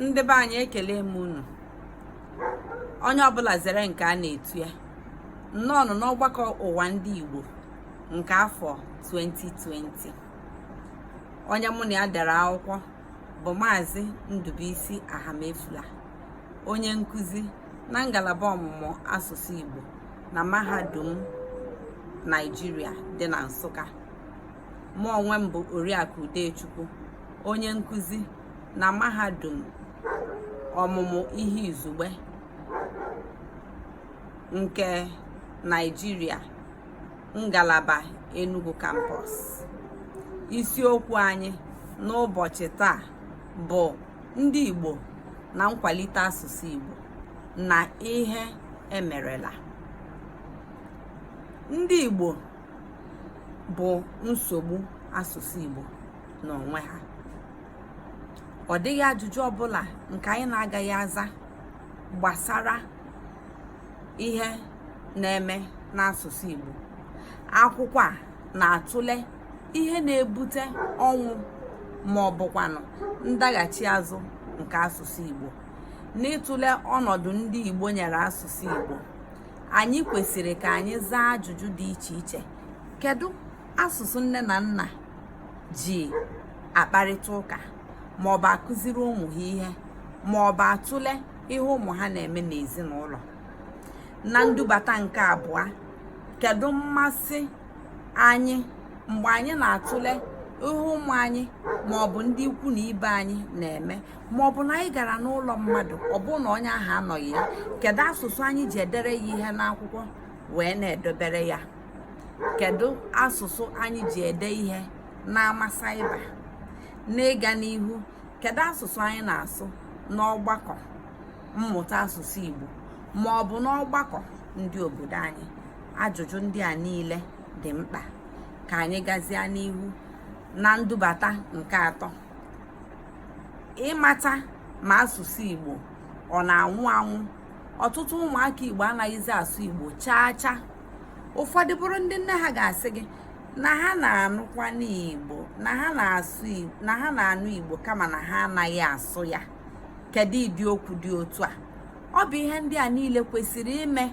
ndị be anyị ekele m unu onye ọbụla zere nke a na-etu ya nnọọnụ n'ọgbakọ ụwa ndị Igbo nke afọ 2020 onye mụ na ya dere akwụkwọ bụ maazị Ndubuisi Ahamefula onye nkụzi na ngalaba ọmụmụ asụsụ Igbo na mahadum Naịjirịa dị na Nsụka mụ onwe m bụ Oriakụ Udechukwu onye nkụzi na mahadum ọmụmụ ihe izugbe nke Naịjirịa ngalaba Enugu Campus isiokwu anyị n'ụbọchị taa bụ ndị Igbo na nkwalite asụsụ Igbo na ihe emerela ndị Igbo bụ nsogbu asụsụ Igbo n'onwe ha ọ dịghị ajụjụ ọbụla nke anyị na-agaghị aza gbasara ihe na-eme n'asụsụ Igbo akwụkwọ a na-atụle ihe na-ebute ọnwụ ma ọ bụkwanụ ndaghachi azụ nke asụsụ Igbo n'ịtụle ọnọdụ ndị Igbo nyere asụsụ Igbo anyị kwesịrị ka anyị zaa ajụjụ dị iche iche kedu asụsụ nne na nna ji akparịta ụka ma ọ bụ akụziri ụmụ ha ihe ma ọ bụ atụle ihe ụmụ ha na-eme n'ezinụlọ na ndubata nke abụọ kedu mmasị anyị mgbe anyị na-atụle ihe ụmụ anyị ma ọ bụ ndị ikwu na ibe anyị na-eme ma ọ bụ na anyị gara n'ụlọ mmadụ ọ bụrụ na onye ahụ anọghị ya kedu asụsụ anyị ji edere ya ihe n'akwụkwọ wee na-edobere ya kedu asụsụ anyị ji ede ihe n'ama saịba n'ịga n'ihu kedu asụsụ anyị na-asụ n'ọgbakọ mmụta asụsụ Igbo ma ọ bụ n'ọgbakọ ndị obodo anyị ajụjụ ndị a niile dị mkpa ka anyị gazie n'ihu na ndubata nke atọ ịmata ma asụsụ Igbo ọ na-anwụ anwụ ọtụtụ ụmụaka Igbo anaghịzi asụ Igbo chaa chaa ụfọdụ bụrụ ndị nne ha ga-asị gị na ha na-anụkwanụ Igbo na ha na-asụ na ha na-anụ Igbo kama na ha anaghị asụ ya kedu ụdị okwu dị otu a ọ bụ ihe ndị a niile kwesịrị ime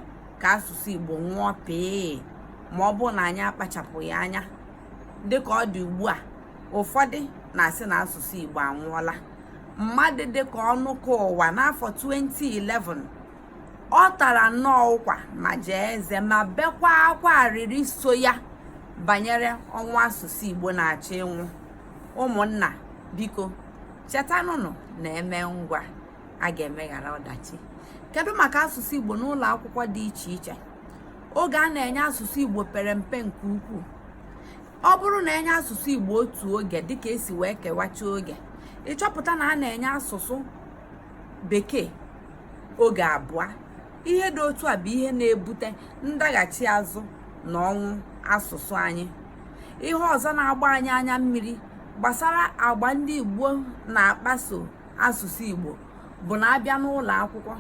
ka asụsụ Igbo nwụọ pee ma ọ bụrụ na anyị akpachapụghị anya dịka ọ dị ugbu a ụfọdụ na-asị na asụsụ Igbo anwụọla mmadụ dịka Ọnụkawa n'afọ 2011 ọ tara nnọọ ụkwa ma jaa eze ma bekwa akwa arịrị so ya banyere ọnwụ asụsụ Igbo na-achọ ịnwụ ụmụnna biko chetanụnụ na e mee ngwa a ga-emeghara ọdachi kedu maka asụsụ Igbo n'ụlọ akwụkwọ dị iche iche oge a na-enye asụsụ igbo pere mpe nke ukwuu ọ bụrụ na enye asụsụ igbo otu oge dịka e si wee kewacha oge ị chọpụta na a na-enye asụsụ bekee oge abụọ ihe dị otu a bụ ihe na-ebute ndaghachi azụ na ọnwụ asụsụ anyị ihe ọzọ na-agba anyị anya mmiri gbasara agwa ndị igbo na-akpaso asụsụ igbo bụ na a bịa n'ụlọ akwụkwọ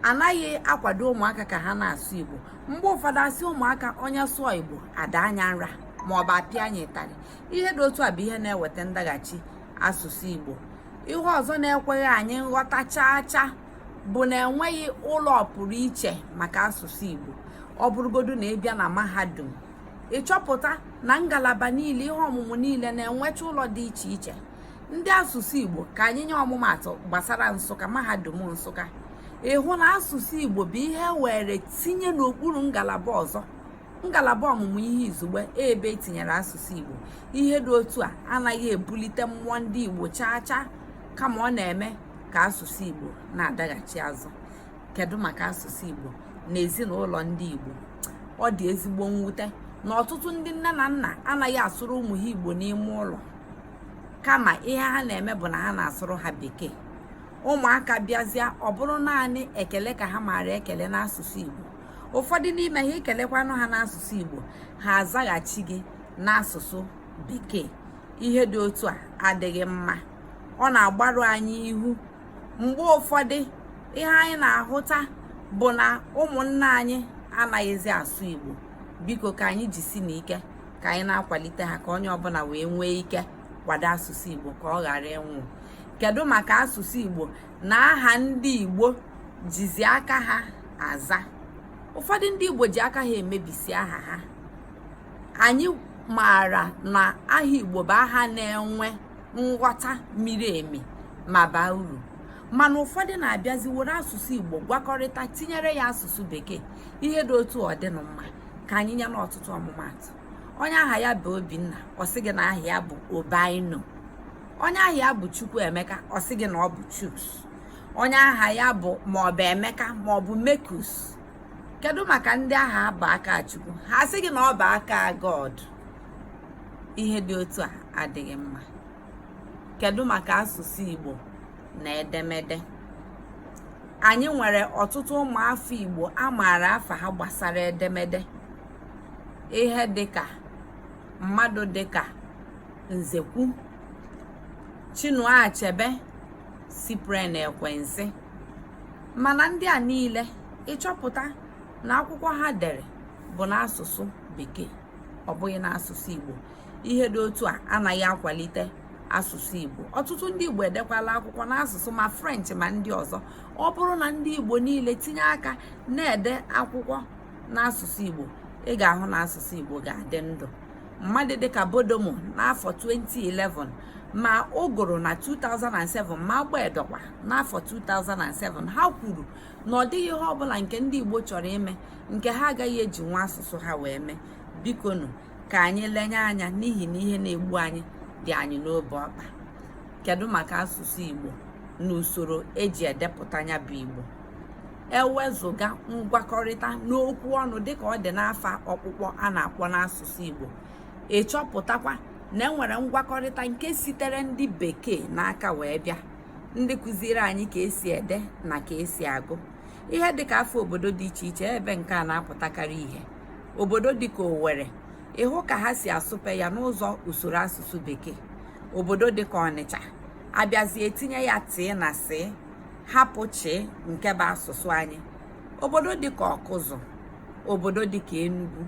anaghị akwado ụmụaka ka ha na-asụ igbo mgbe ụfọdụ a sị ụmụaka onye sụọ igbo a daa nya nra ma ọ bụ a pịa nya ịtarị ihe dị otu a bụ ihe na-eweta ndaghachi asụsụ igbo ihe ọzọ na-ekweghị anyị nghọta chaa chaa bụ na enweghị ụlọ ọpụrụ iche maka asụsụ igbo ọ bụrụgodu na ị bịa na mahadum ị chọpụta na ngalaba niile ihe ọmụmụ niile na-enwecha ụlọ dị iche iche ndị asụsụ igbo ka anyị nye ọmụmatụ gbasara nsụka mahadum nsụka ị hụ na asụsụ igbo bụ ihe e were tinye n'okpuru ngalaba ọzọ ngalaba ọmụmụ ihe izugbe ebe e tinyere asụsụ igbo ihe dị otu a anaghị ebulite mmụọ ndị igbo chaa chaa kama ọ na-eme ka asụsụ igbo na-adaghachi azụ kedu maka asụsụ igbo na ezinụlọ ndị igbo ọ dị ezigbo mwute na ọtụtụ ndị nne na nna anaghị asụrụ ụmụ ha igbo n'ime ụlọ kama ihe ha na-eme bụ na ha na-asụrụ ha bekee ụmụaka bịazịa ọ bụrụ naanị ekele ka ha maara ekele n'asụsụ Igbo ụfọdụ n'ime ha i kelekwanụ ha n'asụsụ Igbo ha azaghachi gị n'asụsụ bekee ihe dị otu a adịghị mma ọ na-agbarụ anyị ihu mgbe ụfọdụ ihe anyị na-ahụta bụ na ụmụnna anyị anaghịzi asụ Igbo biko ka anyị jisi n'ike ka anyị na-akwalite ha ka onye ọbụla wee nwee ike kwado asụsụ Igbo ka ọ ghara ịnwụ kedu maka asụsụ Igbo na aha ndị Igbo jizi aka ha aza ụfọdụ ndị Igbo ji aka ha emebisi aha ha anyị maara na aha Igbo bụ aha na-enwe nghọta miri emi ma baa uru mana ụfọdụ na-abịazi were asụsụ Igbo gwakọrịta tinyere ya asụsụ bekee ihe dị otu a ọ dịnụ mma ka anyị nye n'ọtụtụ ọmụmatụ onye aha ya bụ obinna ọ sị gị na aha ya bụ obaino onye aha ya bụ chukwuemeka ọ sị gị na ọ bụ chuks onye aha ya bụ maọbụ emeka maọbụ mekus kedu maka ndị aha bụ akachukwu ha sị gị na ọ bụ aka god ihe dị otu a adịghị mma kedu maka asụsụ igbo na edemede anyị nwere ọtụtụ ụmụafọ igbo a maara afa ha gbasara edemede ihe dịka mmadụ dịka nzekwu chinua achebe cyprian ekwensi mana ndị a niile ịchọpụta na akwụkwọ ha dere bụ n'asụsụ bekee ọ bụghị n'asụsụ igbo ihe dị otu a anaghị akwalite asụsụ igbo ọtụtụ ndị igbo edekwala akwụkwọ n'asụsụ ma french ma ndị ọzọ ọ bụrụ na ndị igbo niile tinye aka na-ede akwụkwọ n'asụsụ igbo ị ga-ahụ na asụsụ igbo ga-adị ndụ mmadụ dịka bodomo n'afọ 2011 ma ụgụrụ na 2007 ma agbedo kwa n'afọ 2007 ha kwuru na ọ dịghị ihe ọbụla nke ndị igbo chọrọ ime nke ha agaghị ejinwu asụsụ ha wee mee bikonu ka anyị lenye anya n'ihi na ihe na-egbu anyị dị anyị n'obe ọkpa kedu maka asụsụ igbo na usoro eji edepụta ya bụ igbo ewezụga ngwakọrịta n'okwu ọnụ dịka ọ dị n'afa ọkpụkpọ a na-akpọ n'asụsụ igbo ịchọpụtakwa na enwere ngwakọrịta nke sitere ndị bekee n'aka wee bịa ndị kụziri anyị ka esi ede na ka esi agụ ihe dịka afa obodo dị iche iche ebe nke a na-apụtakarị ihe obodo dịka Owerri ịhụ ka ha si asụpe ya n'ụzọ usoro asụsụ bekee obodo dịka Ọnịcha abịazie etinye ya tịị na sị hapụ chịị nke bụ asụsụ anyị obodo dịka Ọkụzụ obodo dịka Enugu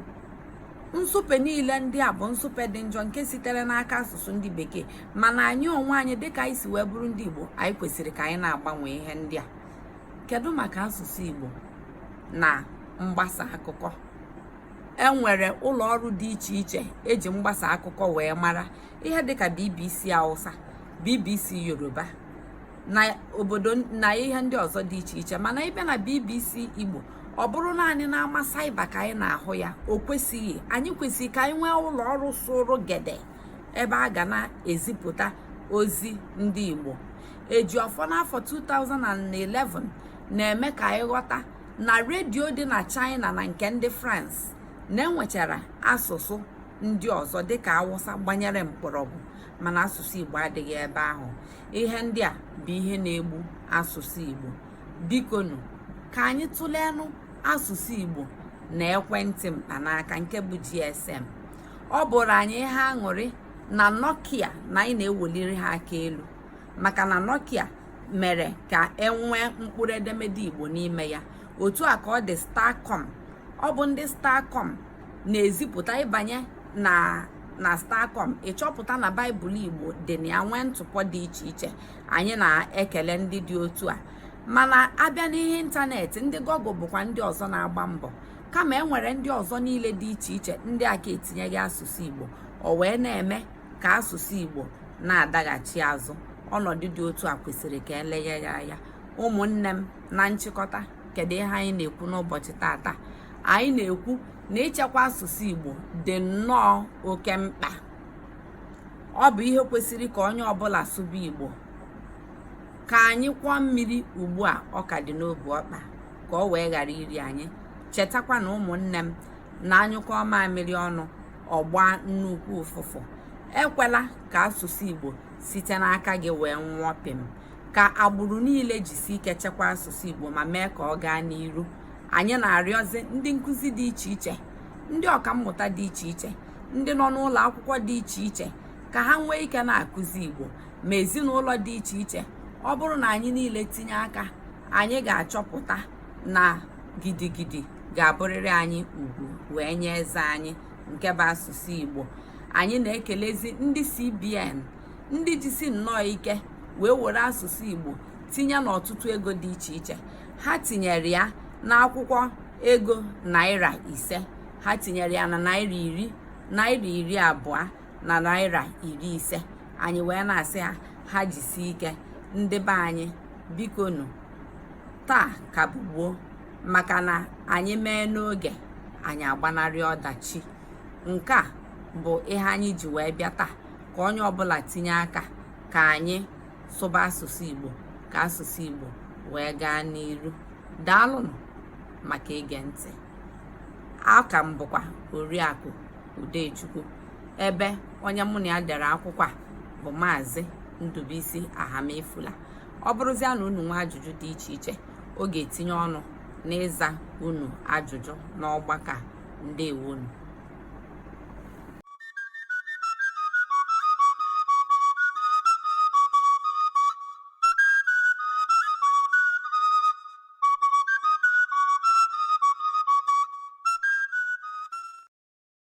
nsụpe niile ndị a bụ nsụpe dị njọ nke sitere n'aka asụsụ ndị bekee mana anyị onwe anyị dịka anyị si wee bụrụ ndị Igbo anyị kwesịrị ka anyị na-agbanwe ihe ndị a kedu maka asụsụ igbo na mgbasa akụkọ enwere ụlọ ọrụ dị iche iche eji mgbasa akụkọ wee mara ihe dịka bbc hausa bbc yoruba na obodo na ihe ndị ọzọ dị iche iche mana ịbịa na bbc igbo ọ bụrụ naanị n'ama saiba ka anyị na-ahụ ya o kwesịghị anyị kwesịrị ka anyị nwee ụlọ ọrụ sụrụ gede ebe a ga na-ezipụta ozi ndị Igbo Ejiọfọ n'afọ 2011 na-eme ka anyị ghọta na redio dị na China na nke ndị France na-enwechara asụsụ ndị ọzọ dịka Awụsa gbanyere mkpọrọgwụ mana asụsụ Igbo adịghị ebe ahụ ihe ndị a bụ ihe na-egbu asụsụ Igbo bikonụ ka anyị tụleenụ asụsụ Igbo na ekwentị mkpanaka nke bụ GSM ọ bụrụ anyị ihe aṅụrị na Nokia na anyị na-eweliri ha aka elu maka na Nokia mere ka e nwee mkpụrụ edemede Igbo n'ime ya otu a ka ọ dị Starcom ọ bụ ndị Starcom na-ezipụta ị banye na Starcom ị chọpụta na Baịbụl Igbo dị na ya nwee ntụpọ dị iche iche anyị na-ekele ndị dị otu a mana a bịa n'ihe ịntanetị ndị Google bụkwa ndị ọzọ na-agba mbọ kama e nwere ndị ọzọ niile dị iche iche ndị a ka etinyeghị asụsụ Igbo o wee na-eme ka asụsụ Igbo na-adaghachi azụ ọnọdụ dị otu a kwesịrị ka eleghe ya anya ụmụnne m na nchịkọta kedu ihe anyị na-ekwu n'ụbọchị tata anyị na-ekwu na ichekwa asụsụ Igbo dị nnọọ oke mkpa ọ bụ ihe kwesịrị ka onye ọbụla sụba Igbo ka anyị kwọọ mmiri ugbu a ọ ka dị n'obu ọkpa ka o wee ghara iri anyị chetakwanụ ụmụnne m na a nyụkọọ mamịrị ọnụ ọ gbaa nnukwu ụfụfụ ekwela ka asụsụ igbo site n'aka gị wee nwụọ pịm ka agbụrụ niile jisi ike chekwa asụsụ igbo ma mee ka ọ gaa n'iru anyị na-arịọzi ndị nkụzi dị iche iche ndị ọkammụta dị iche iche ndị nọ n'ụlọ akwụkwọ dị iche iche ka ha nwee ike na-akụzi igbo ma ezinụlọ dị iche iche ọ bụrụ na anyị niile tinye aka anyị ga-achọpụta na gidigidi ga-abụrịrị anyị ugwu wee nye eze anyị nke bụ asụsụ Igbo anyị na-ekelezi ndị CBN ndị jisi nnọọ ike wee were asụsụ Igbo tinye n'ọtụtụ ego dị iche iche ha tinyere ya n'akwụkwọ ego naira ise ha tinyere ya na naira iri naira iri abụọ na naira iri ise anyị wee na-asị ha ha jisie ike ndị be anyị bikonụ taa ka bụ gboo maka na anyị mee n'oge anyị agbanarị ọdachi nke a bụ ihe anyị ji wee bịa taa ka onye ọbụla tinye aka ka anyị sụba asụsụ igbo ka asụsụ igbo wee gaa n'iru daalụnụ maka ige ntị aha m bụkwa Oriakụ Udechukwu ebe onye mụ na ya dere akwụkwọ a bụ Maazị Ndụbụisi Ahamefula ọ bụrụzia na unu nwee ajụjụ dị iche iche ọ ga-etinye ọnụ n'ịza unu ajụjụ n'ọgbakọ ndewonu